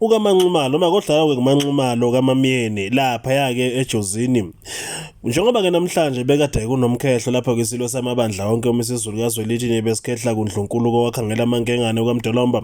ukamanxumalo uma kodlala-ke kumanxumalo kamamyeni laphaya-ke ejozini njengoba-ke namhlanje bekade kunomkhehlo lapho kwisilo samabandla onke uma isizulu kazwelithini besikhehla kundlunkulu kowakhangela amankengane kwamdolomba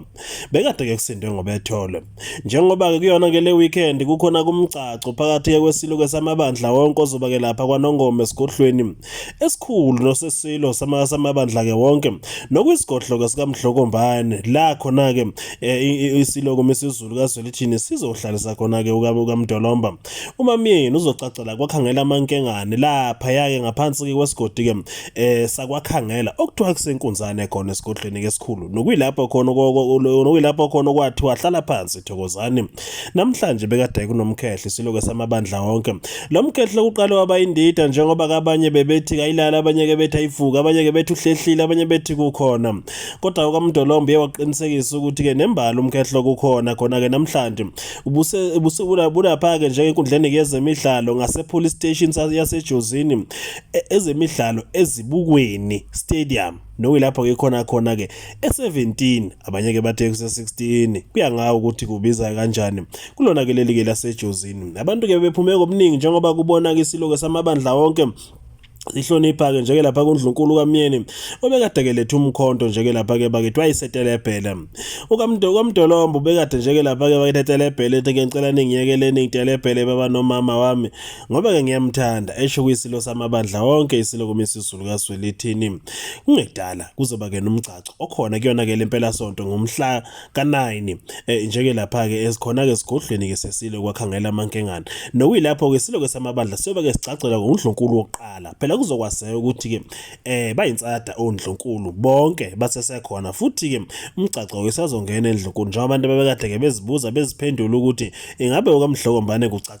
bekade-ke kusindwe ngobethole njengoba-ke kuyona-ke le weekend kukhona kumgcaco phakathi-ke kwesilo-ke samabandla wonke ozoba-ke lapha kwanongoma esigodlweni esikhulu nosesilo samabandla-ke wonke nokuyisigodloko sikamdlokombane la khona-ke eh, isiloko mesizulu kazwelithini sizohlalisa khona-ke ukamdolomba umamyeni uzocacela kwakhangela amankengane laphaya-ke ngaphansi-ke kwesigodi-ke um eh, sakwakhangela okuthiwa kusenkunzane khona esigodlweni-ke esikhulu nokuyilapho khona nokuyilapho khona okwathiwa hlala phansi thokozani Namhlanje bekade kunomkhehle siloke samabandla wonke. Lo mkhehle uqale waba indida njengoba kabanye bebethi kayilala abanye ke bethi ayivuka abanye ke bethi uhlehlile abanye bethi kukhona. Kodwa ukaMdolombo uye waqinisekisa ukuthi ke nembali umkhehle kukhona khona ke namhlanje ubuse ubuse ulapha ke njengenkundleni yezemidlalo ngasePolice Station yasejozini e, ezemidlalo ezibukweni stadium nokuyilapho ke khona khona ke e17 abanye ke bathe kuse16 kuya ngawo ukuthi kubiza kanjani kulona ke leli ke lasejozini abantu ke bephume ngobuningi njengoba kubona ke isilo ke samabandla wonke sihlonipha ke njeke lapha kundlunkulu kamyeni obekade ke lethu umkhonto njeke lapha ke bakethiwa isetelebhele ukamdo kamdolombo bekade njeke lapha ke baketetelebhele ethi ngicela ningiyekeleni ngitelebhele baba nomama wami ngoba-ke ngiyamthanda esho kuyisilo samabandla wonke isilo kumisizulu kaswelithini kungedala kuzoba-ke nomgcaco okhona kuyona-ke le mpelasonto ngomhla ka-9 eh, njeke lapha-ke esikhona-ke esigodlweni-ke sesilo kwakhangela amankengane nokuyilapho-ke isilo-ke samabandla siyobe-ke sigcagcelwa ngundlunkulu wokuqala phela kuzokwazeka ukuthi-ke um eh, bayinsada ondlunkulu bonke basesekhona futhi-ke umgcaco isazongena endlunkulu njengoba abantu babekade-ke bezibuza beziphendula ukuthi ingabe okamdlokombane kucaca